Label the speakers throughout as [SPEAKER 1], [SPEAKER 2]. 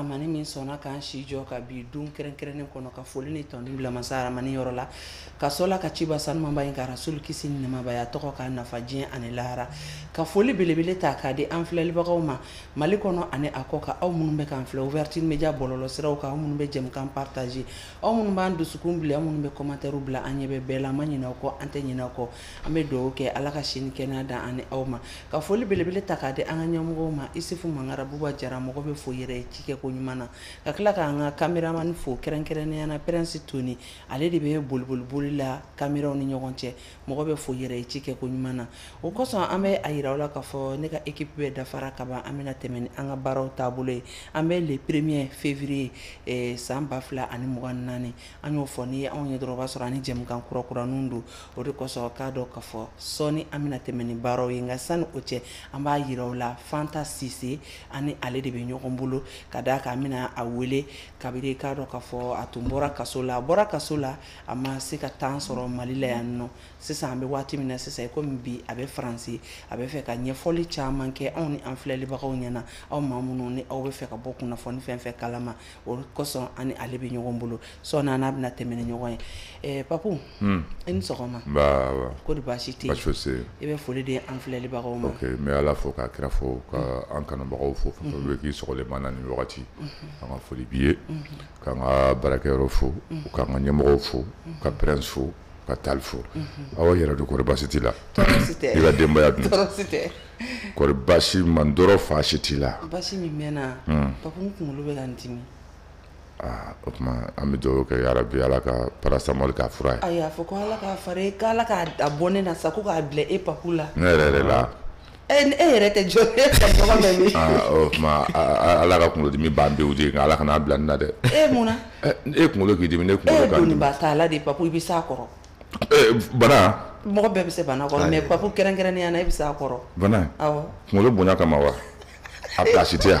[SPEAKER 1] Amani min sɔnna k'an si jɔ ka bi don kɛrɛnkɛrɛnnen kɔnɔ ka foli ni tanuni bila masa aramani yɔrɔ la ka sɔrɔ ka ciba sanumaba in ka rasulu kisi ni nɛɛma b'a ye tɔgɔ k'an nafa diɲɛ ani lahara ka foli belebele ta k'a di an filɛlibagaw ma mali kɔnɔ ani a kɔkan aw minnu bɛ k'an filɛ ouverture media bɔlɔlɔ siraw kan aw minnu bɛ jɛmukan partager aw minnu b'an dusukun bila aw minnu bɛ commentaire bila an ɲɛ bɛ bɛɛ la an ma ɲinɛ aw kɔ an tɛ ɲinɛ aw kɔ an bɛ dugawu kɛ ala ka si ni kɛnɛya d'an ani aw ma ka foli belebele ta k'a di an ka ɲɛmɔgɔw ma isufu mangara buba jara mɔgɔ bɛ fo yɛrɛ ye cikɛ ko ɲuman na ka tila k'an ka kameramani fo kɛrɛnkɛrɛnnenya na pɛrɛnsi toni ale de bɛ boliboliboli la kameraw ni ɲɔgɔn cɛ mɔgɔ bɛ fo yɛrɛ ye cikɛ ko ɲuman na o kosɔn an bɛ a yira aw la k'a fɔ ne ka ekipi bɛɛ dafara ka ban an bɛna tɛmɛ ni an ka baaraw taabolo ye an bɛ le premier février eh, san ba fila ani mugan naani an y'o fɔ n'i ye anw ye dɔrɔn o b'a sɔrɔ an ni jɛmukan kurakuraniw don o de kosɔn k'a dɔn k'a fɔ sɔɔni an bɛna tɛmɛ ni baaraw ye nka sani o cɛ an b'a yira aw la fanta sise an ni ale de bɛ ɲɔgɔn bolo ka d'a kan an bɛna a wele kabiri k'a dɔn k'a fɔ a tun bɔra kaso la a bɔra kaso la a ma se ka temps sɔrɔ mali la yan nɔ sisan an bɛ waati min na sisan i komi bi a bɛ faransi a bɛ fɛ ka ɲɛfɔli caman kɛ anw ni an filɛlibagaw ɲɛ na aw maa minnu ni aw bɛ fɛ ka bɔ kunnafoni fɛn fɛn kalama o kosɔn an ni ale bɛ ɲɔgɔn bolo sɔɔni an bɛna tɛmɛ ni ɲɔgɔn ye papu i ni sɔgɔma ko di baasi tɛ i bɛ foli di an filɛlibagaw ma n bɛ ala fo
[SPEAKER 2] k'a kira fo ka an kanubagaw fo fan bɛɛ k'i sɔgɔlen b'an na nin wagati kan an ka foli b'i ye k'an ka baarakɛyɔrɔ fo k'an ka ɲɛmɔgɔ fo ka pɛrɛnsi fo ka taali fo aw yɛrɛ dun kɔri basi t'i la i ka denbaya dun kɔri basi man dɔrɔn fosi t'i la basi min bɛ n na
[SPEAKER 1] papu n kunkolo bɛ ka n dimi
[SPEAKER 2] aa o tuma an bɛ dugawu kɛ yarabi ala ka paracetamol k'a fura ye ayi a fɔ ko ala k'
[SPEAKER 1] fari k' ala k'a da bɔ ne na sa ko k'a bila e papu la ne yɛrɛ yɛrɛ la
[SPEAKER 2] E e
[SPEAKER 1] yɛrɛ tɛ jɔ e tɛ ɲɔgɔn bɛ min aa o tuma
[SPEAKER 2] a- a- a- ala ka kunkolodimi ban pewu de nka ala kana a bila ne na dɛ e mun
[SPEAKER 1] na Ɛ, e kunkolo k'i dimi
[SPEAKER 2] ne e kunkolo ye ka dimi doniba t'a la de papu
[SPEAKER 1] i bɛ s'a kɔrɔ Ɛ,
[SPEAKER 2] bana mɔgɔ bɛɛ
[SPEAKER 1] bɛ se bana kɔrɔ Ayi. mais papu kɛrɛnkɛrɛnnenya na i bɛ s'a kɔrɔ bana awɔ
[SPEAKER 2] kunkolo bonya
[SPEAKER 1] kama wa
[SPEAKER 2] a pilasi tɛ yan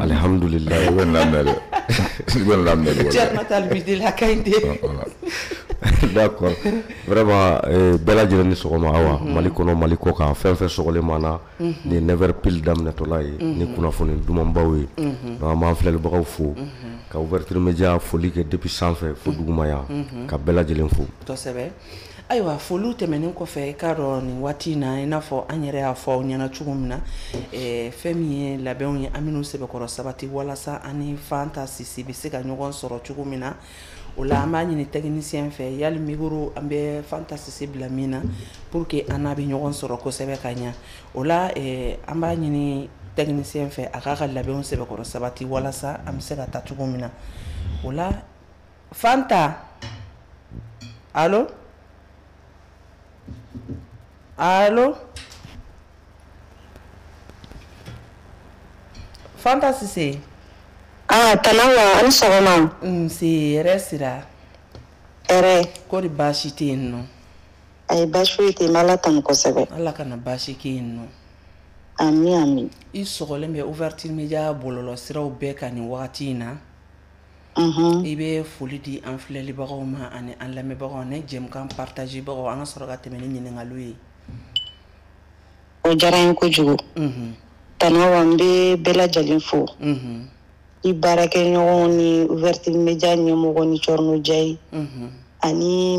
[SPEAKER 3] alihamdulila i bɛ lamɛn
[SPEAKER 2] dɛ i bɛ lamɛn dɛ cɛrno ta
[SPEAKER 1] bi de la ka ɲi
[SPEAKER 3] de d'accord vraiment eh, bɛɛ lajɛlen ni sɔgɔma awa mhm. mali kɔnɔ mali kɔkan fɛn fɛn sɔgɔlen b'an na mhm. nin 9 heures pile daminɛtɔla ye mhm. ni kunnafoni dumanbaw ye donc an b'an filɛlibagaw fo ka ouverture média foli kɛ depuis sanfɛ fo duguma yan ka bɛɛ lajɛlen fo
[SPEAKER 1] ayiwa foliw tɛmɛnen kɔfɛ i k'a dɔn nin waati in na i n'a fɔ an yɛrɛ y'a fɔ aw ɲɛna cogo min na eh, fɛn min ye labɛnw ye an minnu sɛbɛkɔrɔ sabati walasa an ni fanta sise bɛ se ka ɲɔgɔn sɔrɔ cogo min na o la an b'a ɲini tɛkinisiyɛn fɛ yali mikoro an bɛ fanta sise bila min na pour que an n'a bɛ ɲɔgɔn sɔrɔ kosɛbɛ ka ɲa o la eh, an b'a ɲini tɛkinisiyɛn fɛ a k'a ka labɛnw sɛbɛkɔrɔ sabati walasa an bɛ se ka taa cogo min na o la fanta allo allo fanta sise ah
[SPEAKER 4] tanawa an sɔgɔma nse
[SPEAKER 1] hɛrɛ sira hɛrɛ kɔri baasi tɛ yen nɔ ayi
[SPEAKER 4] baasi foyi tɛ yen ala tanu kosɛbɛ ala kana baasi
[SPEAKER 1] kɛ yen nɔ
[SPEAKER 4] amin amin i sɔgɔlen
[SPEAKER 1] bɛ ouverture media bɔlɔlɔ siraw bɛɛ kan nin wagati in na i bɛ foli di an filɛlibagaw ma ani an lamɛnbagaw ani jɛmukan partagerbagaw an ka sɔrɔ ka tɛmɛ ni ɲininkaliw ye
[SPEAKER 4] o diyara n ye kojugu tanawa n bɛ bɛɛ lajɛlen fo i baarakɛɲɔgɔnw ni ouverture media ɲɛmɔgɔ ni cɛrino jayi ani